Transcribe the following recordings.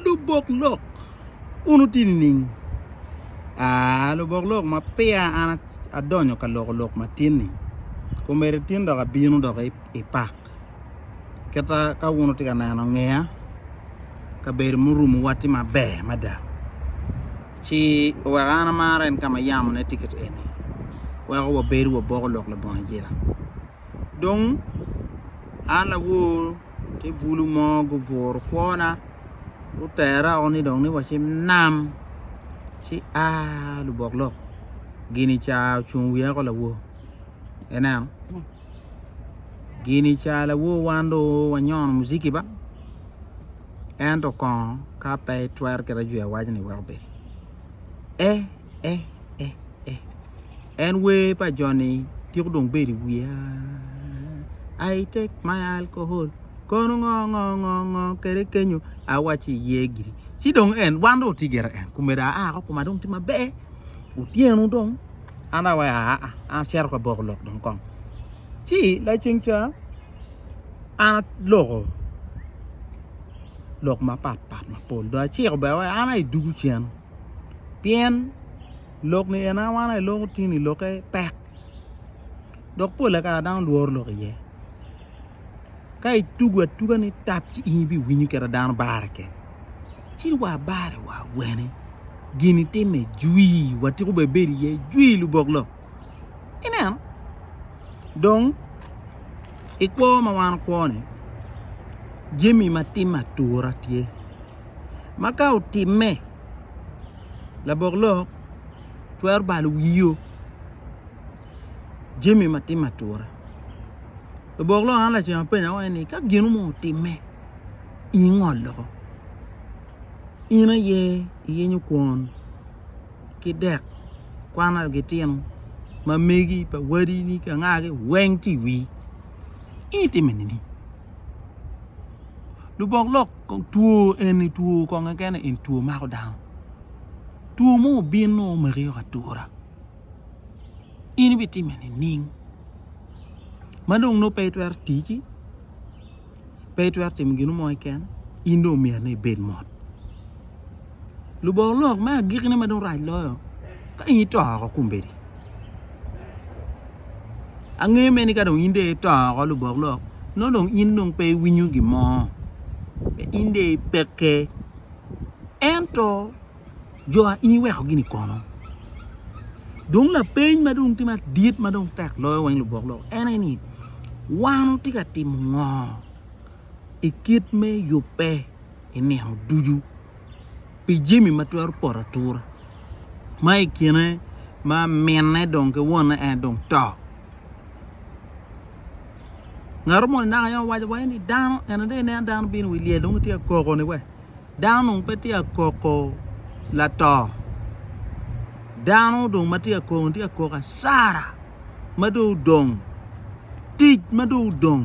Lubok lok un wutye nining? Aa, lubok lok ma peya an adonyo ka loko lok matin-ni komedi tin dok abino dok i pak kita ka wun wutye ka neno ngeya kabedo murumowa tye maber mada ci oweko an amar en ka ma yamone tye kit eni weko wabedo waboko lok labongo ayela dong an lawor Tye bulu mo guburu kwona gutera o ni dong ni wa ci nam ci a lubok lok gini ca ocung i wiya ko lawo ineno gini ca lawo wan do wanyono muziki ba ento kongo ka pe itwero kit ajwi awac ni wek obed e eh, eh, eh. En wer pa Johnny tyeko dong bedo i wiya I take my alcohol kono ngo ngo ngo ngo kede kenyo awaci iye giri ci dong en wan dong otye gire en kumedo aa ko kuma dong tye maber otyeno dong an awaci aa an acito ka boko lok dong kong ci laceng ca an aloko lok mapat pat mapol dong aciko bene awaci an aye dugu cen pien lok ni en awana i lok otini i lokke pek dok pol kare dano lworo lok iye ka itugo atuga ni tap ci in ibiwinyo kit ma dano bare kene ci wa bare wa wene gin itime jwi watiko bene bedo iye jwi lubok lok ineno dong i kwo ma wan wakwo ni jami ma tim atura tye ma ka otimme, labok lok twero balo wio jami ma timme atura. Labok lok an lacen apenya wai ni ka gino mo otimme ingol loko in aye iyenyo kwon ki dek kwan ma gitino ma megi pa wadi ni ka ngagi weng tye i wii in itime nini? lubok lok kong two eni two kong keken eni two mako dano two mo obino omaki o atura in ibitime nining ma dong nongo pe itwero tici pe itwero timo gin mo keken in dong omyero ni ibed mot Lubongo lok me agikine ma dong rac loyo, ka in ito oko kombeddi. Angeyo mene ni ka dong in dong ito oko lubok lok, nongo dong in dong pe iwinyo gin mo, pe in dong ipekke. Ento jo a in iweko gini kono? Dong lapeny ma dong tye madit ma dong tek loyo weng lubok lok en aye ni, wan watye ka timo ngo i kit me yubbe? i nino ducu pi jami ma twero poto atura ma i kine ma minne dong ki wonne en dong to ngato moni naka yam owaco wa ni dano ene dong ineno dano bino i wi lyel dong gitye ka koko ni we dano dong pe tye ka koko lato dano dong ma tye ka koko ni tye ka koko asara ma dong odong tic ma dong odong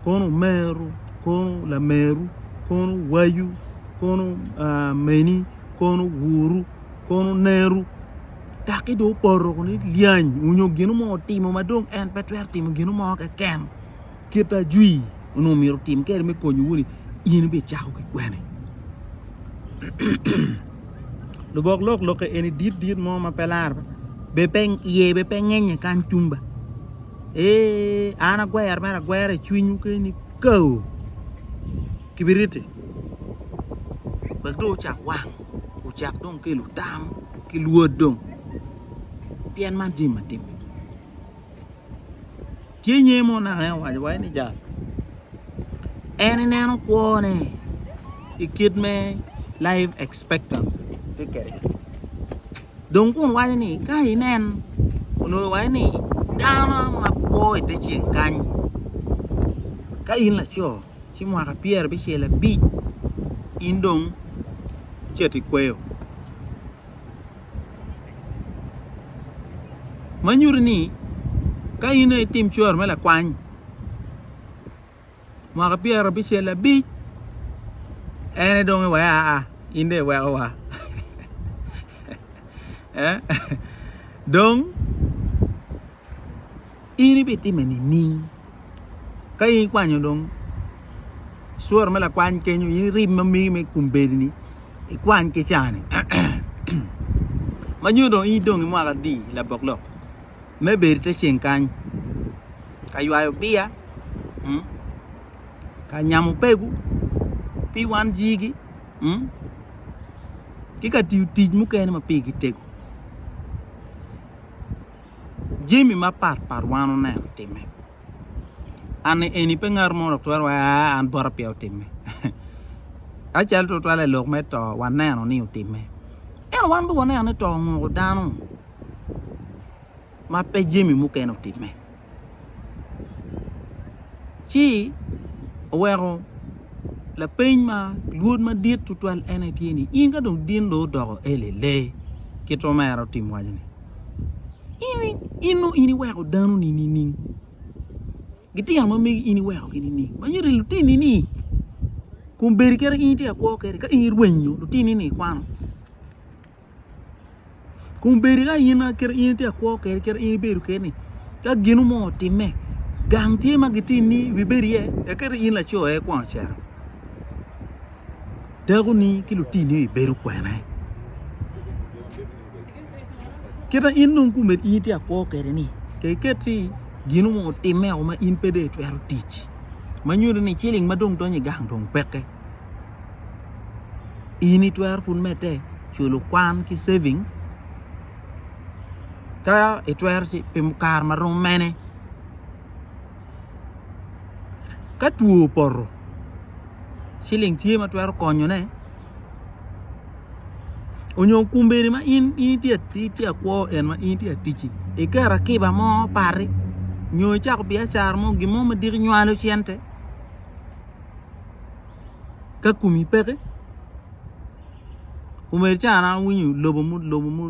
kono omeru, kono lameru, kono wayu, kono meni, kono wuru, kono neru kaki dong opoto kuni lyany onyo ginu mo otimo ma dong en pe twero timo ginu mo keken kit ajwi onongo omyero otim keri me konyo wuni in ibicako ki kwene lubok lok lokke eni dit dit mo ma pe lar iye bene pe ngennye kany tung ba ee an agwero mere agwera i cwinywu keni kaoo kibiriti wek dong ocak wang ocak dong kelo tam ki lwod dong pien man jami matimme. Ci nyer mo naka en owaco wai ni jal en ineno kwone i kit me life expectancy tye kede dong kun waco ni ka inen onongo wai ni dano ma kwo ite ceng kany ka in laco ci mwaka pyer abicel abic in dong cito ikweyo ma nyuto ni ka in aye itim cwaro me lakwany mwaka pyera abicel abic en aye dong iweko aa in dong iweko wa dong in ibitime nining ka in ikwanyo dong cworo me lakwany kenyo in irim ma megi me kumbedini ikwany ki cani ma nyo dong in idong imwaka adi labok lok me bedo ite ceng kany ka ywayo biya ka nyamo pegu pi wan jigi ki ka tiyo tic mukene ma pigi tego. jami mapat pat wan oneno timme anne eni pe ngat mo dok twero wa an bota pye otimme acal twatwal i lok me to waneno ni otimme eno wan be waneno ni to ongoko dano ma pe jami mukene otimme ci oweko lapeny ma lwod madit twatwal ene tye ni in ka dong din dong odoko eli lee kit ma en otimo waconi. In nongo in iweko danoni nining? Gitino ma megi in iwekogi nining? Ma iri lutinini kun bedi kadi in itye ka kwo kwede ka in irwenyo lutinini ikwano kun bedi ka in kadi in itye ka kwo kwede kadi in ibedo keni ka gino mo otimme gang tye ma gitinni ibibedo iye kadi in laco aye kwon ocito dakoni ki lutinni ibibedo kwene? Kit ma in dong kumed in itye akwo kede ni ke iket ni gino mo otime o ma in pe dong itwero tic ma nyuto ni ciling ma dong donyo i gang dong peke in itwero pud mete culo kwan ki saving ka itwero ci pi kare ma rom mene ka two opoto ciling tye ma twero konyone onyo kombeddi ma in itye akwo en ma in itye aticci iketo akiba mo pari nyo icako biacara mo gin mo madit inywalo cente ka komi peke kombeddi ca an awinyo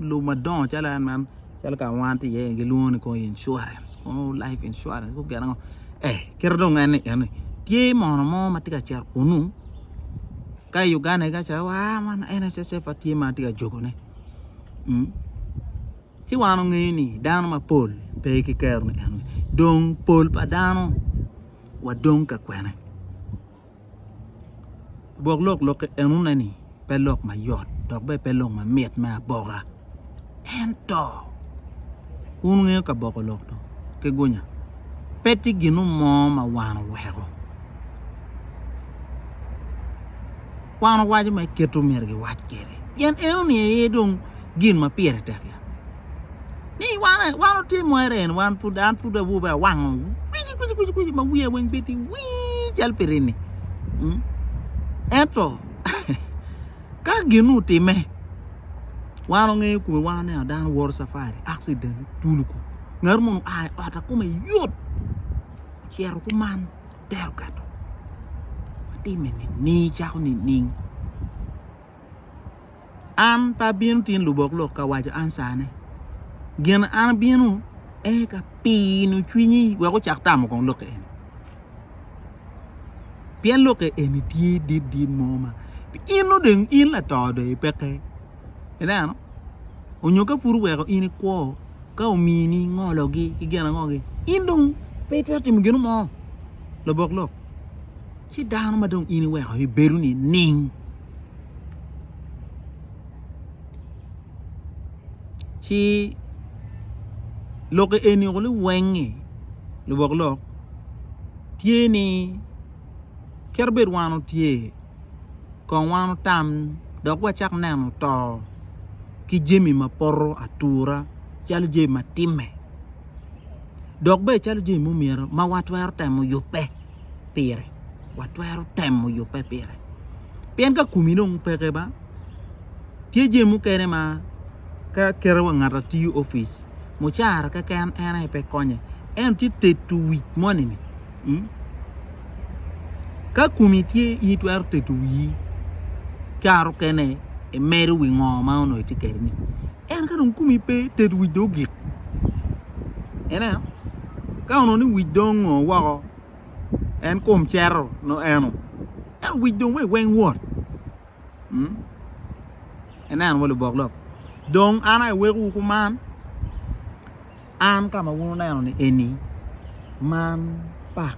lobo madongo calo en man calo ka ma wan tye iye-ni gilwongo ni kong incuarens kong laip incuarens kong gin ango ee kite dong en ni eni tye mono mo ma tye ka cito kunu ka i Uganda ega ca wa man NSSF ma tye ma atye ka jogone ci wan ongeyo ni dano mapol pe ki kero ni eni dong pol pa dano wadong ka kwene. Gwok lok lokke enone ni pe lok ma yot dok bene pe lok ma mit me aboka ento wun wungeyo ka boko lok dong ki gunya pe tye gin mo ma wan oweko wan owaco ma kite omyero giwac kwede pien enoni aye dong gin ma pire tek ya. ni wan otimo ere en wan pud an pud awobi awango kwici kwici kwici kwici ma wiya weng bedi wii cal pi rini mm. ento ka ginu otime wan ongeyo kome wan ne dano woro safari accident tuluku ngat mo oa i ot akome yot ocito kuman tero kato watime nining cako nining An pe abino tin lubok lok ka waco an sane. Gin an abino ee ka pino cwinyi wek ocak tamo kong lokke eni. Pien lokke eni tye dit dit mo ma in nongo dong in lato dong ipekke. Ineno? Onyo ka pud oweko in ikwo ka omini ngologi ki gin ango-gi in dong pe itwero timo gino mo labok lok. ci dano ma dong in iweko i bedo ni ning ci lok eni oko ni wengi lubok lok tye ni kit bed wan otye kong wan otam dok wa cak neno to ki jami ma poto atura calo jami ma time dok bene calo jami ma myero ma wa twero temo yube. pire, watwero temo yubbe pire. Pien ka komi dong peke ba, tye jami mukene ma ka kite wa ngat atiyo opic, mucara keken en aye pe konye, ento tye teto wic moni-ni, mm, ka komi tye in itwero teto wii, kare okene imedo wi ngo ma onongo itye kede-ni, Ento ka dong komi pe tet wic dong ogik ineno ka onongo ni wic dong ongo woko en kom cero nongo eno ento wic dong wek weng wot ineno wa lubok lok dong an aye wekowu kuman an ka ma wun wuneno ni eni man pak.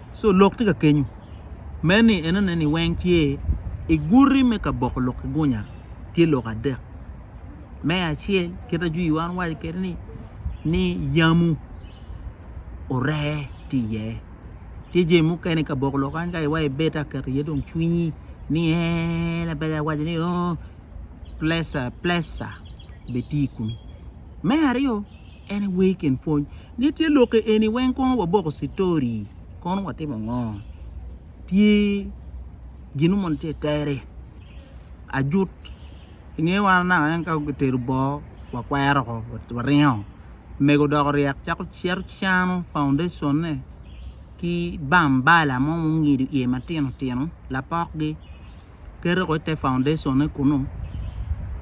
So lok tye ka kenyu me ni enone ni weng tye i guti me ka boko lok ki gunya tye lok adek. Me acel kit ajwi iwa an waco kede ni ni yamu oree tye iye. Tye jemi mukene ka boko lok kany ka iwa ibet aketo iye dong cwinyi ni ee labade awaco ni oo plesa plesa be tye i kumi. Me aryo. Anyway kin pwony ne tye lokke eni weng kono waboko citori kono watimo ngo tye gin mo tye tere ajut inge wa naka en ka gitero boo wakwero ko waringo mego dok oryek cako cito cano foundation ne ki bambala mo mungido iye matino tino lapok gi. kete ko ite foundation-ne kunu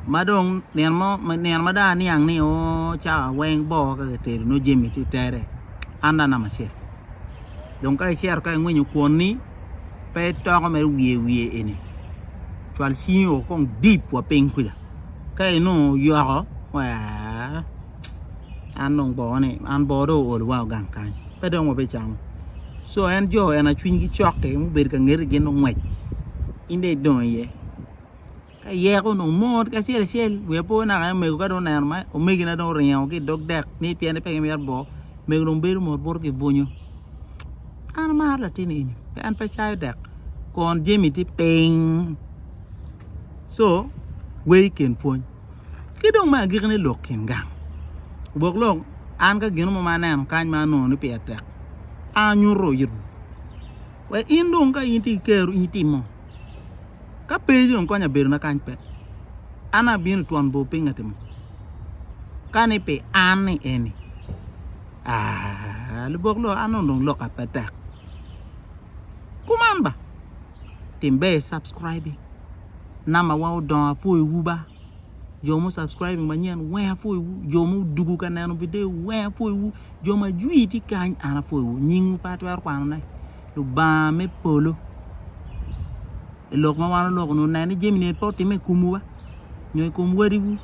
ma dong nino mo nino ma dong aniang ni o cawa weng boo ka kitedo nongo jami tye i tere anda namba acel dong ka icito ka ingwinyo kwon-ni pe itoko mere wiye wiye eni cwal cingi o kong deep wa piny kwica ka inongo oyoko waa an dong bongone an boo dong ool wa gang kany pe dong wa bicamo so en jo en aye cwiny gi cok ki mubedo ka ngeti gin dong ngwec in dong idong iye ka iyeko dong mot ki acel acel wi apo naka en omego ka dong oneno ma omegi na dong oringo ki idog dek ni piengi pe gimito boo omego dong bedo mot buto ki bunyu an amaro latin eni en pe cayo dek kun jami tye piny so wer i kin pwony Ki dong me agikine lok kin gang. Gwok lok, an ka gin mo ma aneno kany ma anongo ni pire tek, anyuto itwu. Wek in dong ka in tye ki ker in itimo. Ka pe dong kony abedona kany pe, an abino twon bor piny atimo. Ka ni pi an ni eni, aa, lubok lok, an dong loka pe tek. Kuman ba, tim ber i subscribing. number wa odongo apwoyo wu ba jo mu subscribing manyen weng apwoyo wu jo mu dugu ka neno video weng apwoyo wu jo ma jwi tye kany an apwoyo wu nying wu pe atwero kwano ne lubanga me polo i lok ma wan oloko nu nen ni jami ni pe otime i kom wu ba nyo i kom wadi wu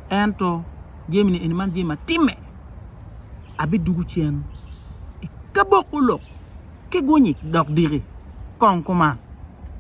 ento jami ni eni man jami ma time abi dugu cen i kabok olok ki gunyi dok diki kong kuman